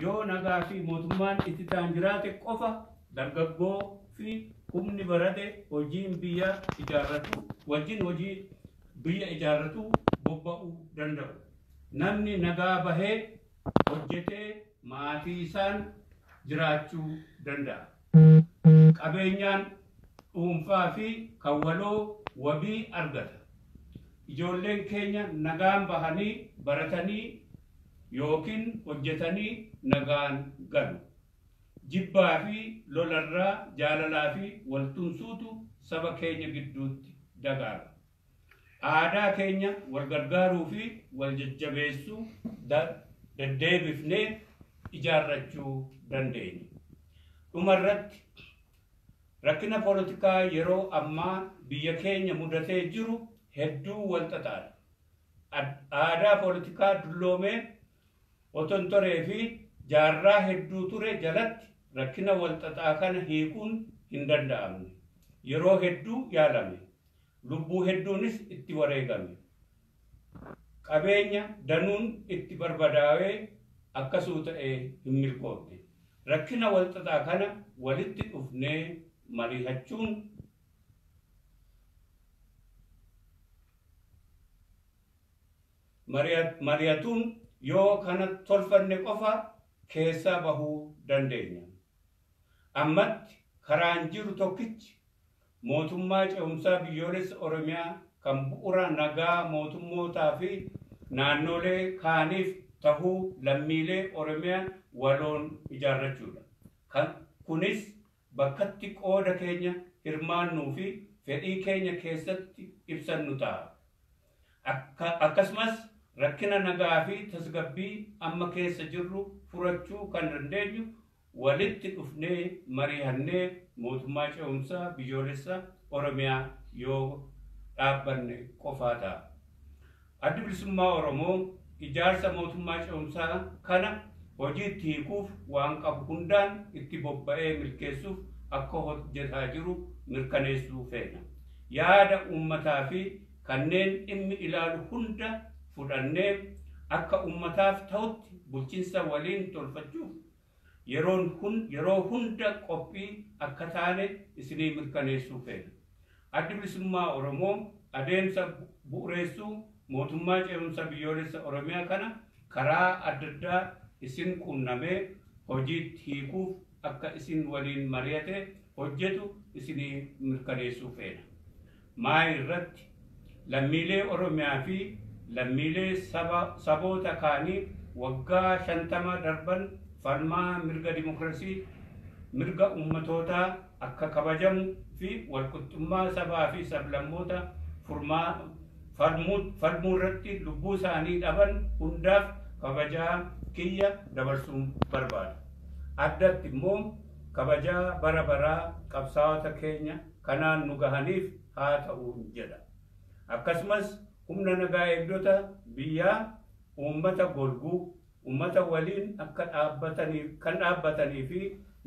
Yoo nagaa fi mootummaan itti taan jiraate qofa dargaggoo fi humni barate hojiin biyya ijaarratu wajjin hojii biyya ijaarratu bobba'u danda'u. Namni nagaa bahee hojjetee maatiisaan jiraachuu danda'a. Qabeenyaan dhuunfaa fi kan waloo wabii argata. Ijoolleen keenya nagaan bahanii baratanii ykn hojjetanii nagaan galu. Jibbaa fi lola irraa jaalalaa fi wal tumsuutu saba keenya gidduutti dagaaga. Aadaa keenya wal gargaaruu fi wal jajjabeessuu deddeebifnee ijaarrachuu dandeenya. Dhuma irratti, rakkina polotikaa yeroo ammaa biyya keenya mudatee jiru hedduu wal xaxaadha. Aadaa polotikaa dulloomee otontoree fi jaarraa hedduu ture jalatti rakkina wal xaxaa kana hiikuun hin danda'amne. Yeroo hedduu yaalame, Lubbuu hedduunis itti wareegame. Qabeenya danuun itti barbadaawee akkasuu ta'ee hin milkoofne. Rakkina walxaxaa kana walitti dhufnee mariihachuun, marihatuun yoo kana tolfanne qofa keessaa bahuu dandeenya. Ammatti karaan jiru tokkichi Mootummaa Cehumsaa Biyyoolessa Oromiyaa kan bu'ura nagaa mootummootaa fi naannoolee kaaniif tahuu lammiilee Oromiyaa waloon ijaarrachuu dha. Kan Kunis bakkatti qooda keenya hirmaannuu fi fedhii keenya keessatti ibsannu taha. Akka Akkasumas rakkina nagaa fi tasgabbii amma keessa jirru furachuu kan dandeenyu walitti dhufnee marihannee mootummaa ce'umsaa biyyoolessa Oromiyaa yoo dhaabbanne qofaa ta'a. Addi Bilisummaa Oromoo ijaarsa mootummaa ce'umsaa kana hojiitti hiikuuf waan qabu hundaan itti bobba'ee milkeessuuf akka hojjetaa jiru mirkaneessuu feena. Yaada uummataa fi kanneen dhimmi ilaalu hunda fudhannee akka ummataaf tahutti bulchinsa waliin tolfachuuf yeroo hunda qophii akka taane isinii mirkaneessuu feena. Addi Bilisummaa Oromoo adeemsa bu'ureessuu Mootummaa Ce'umsa Biyyoolessa Oromiyaa kana karaa addaddaa isin quunnamee hojiitti hiikuuf akka isin waliin mari'ate hojjetu isinii mirkaneessuu feena. Maayi irratti, lammiilee Oromiyaa fi lammiilee saba, saboota kaanii waggaa 50 darban falmaa mirga dimokrasii, mirga ummatootaa akka kabajamu fi walqixxummaa sabaa fi sablammoota furmaa, falmu, falmuu irratti lubbuu isaanii dhaban hundaaf kabajaa kiyya dabarsuun barbaada. addatti immoo kabajaa bara baraa qabsaawota keenya kanaan nu gahaniif haa ta'uun jedha. Akkasumas humna nagaa eegdota biyyaa uummata golguu, uummata waliin akka dhaabbataniif kan dhaabbatanii fi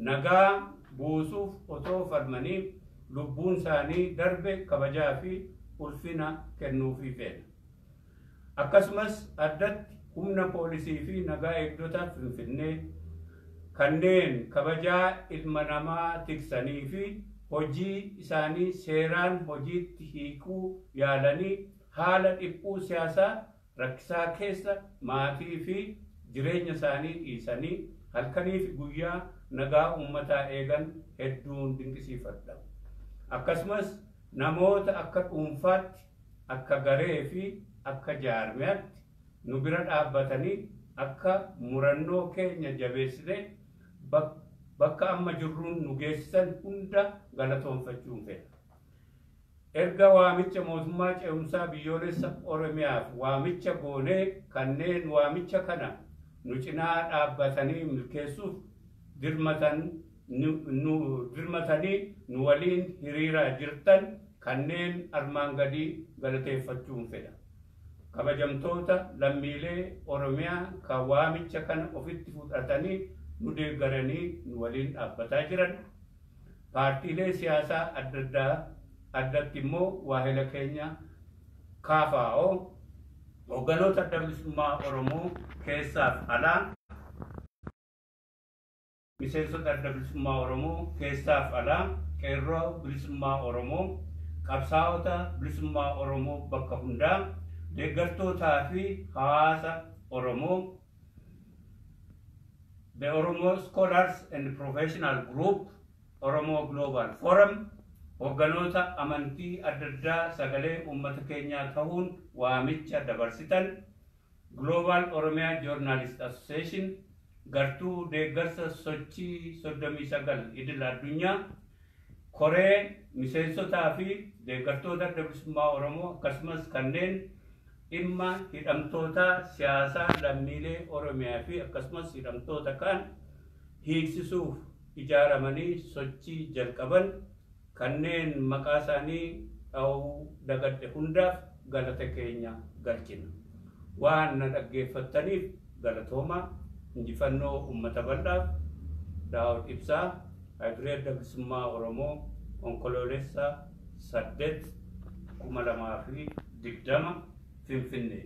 nagaa buusuuf otoo falmanii lubbuun isaanii darbe kabajaa fi ulfina kennuufii feena. Akkasumas addatti humna poolisii fi nagaa eegdota Finfinnee kanneen kabajaa ilma namaa tiksanii fi hojii isaanii seeraan hojiitti hiikuu yaalanii haala dhiphuu siyaasaa rakkisaa keessa maatii fi jireenya isaanii dhiisanii halkanii fi guyyaa nagaa uummataa eegan hedduun dinqisiifadha. Akkasumas namoota akka dhuunfaatti akka garee fi akka jaarmiyaatti nu bira dhaabbatanii akka murannoo keenya jabeessinee bakka amma jirruun nu geessisan hunda galatoomfachuun fedha. Erga waamicha Mootummaa Ce'umsaa Biyyoolessa Oromiyaaf waamicha goonee kanneen waamicha kana nu cinaa dhaabbatanii milkeessuuf dirmatan, nu dirmatanii nu waliin hiriiraa jirtan kanneen armaan gadii galateeffachuun fedha. Kabajamtoota lammiilee Oromiyaa ka waamicha kana ofitti fudhatanii nu deeggaranii nu waliin dhaabbataa jiran, paartiilee siyaasaa addaddaa, addatti immoo waahila keenya KFO, Hoogganoota Adda Bilisummaa Oromoo keessaaf alaa, Miseensota Adda Bilisummaa Oromoo keessaaf alaa, Qeerroo Bilisummaa Oromoo, Qabsaa'ota Bilisummaa Oromoo bakka hundaa, Deeggartootaa fi Hawaasa Oromoo, The Oromo Scholars and Professional Group, Oromo Global Forum, Hogganoota Amantii adda addaa sagalee uummata keenyaa tahuun waamicha dabarsitan, Global Oromia Journalist Association gartuu deeggarsa sochii 39 idil addunyaa koree miseensotaa fi deeggartoota Adda Bilisummaa Oromoo akkasumas kanneen dhimma hidhamtootaa siyaasaa lammiilee Oromiyaa fi akkasumas hidhamtoota kaan hiiksisuuf ijaaramanii sochii jalqaban kanneen maqaa isaanii dhahuu dagadhe hundaaf galata keenya galchina. Waan na dhaggeeffattaniif galatoomaa. Injifannoo Ummata Bal'aaf! Daawud Ibsaa, Hagree Adda Bilisummaa Oromoo, Onkoloolessa 8, 2020, Finfinnee.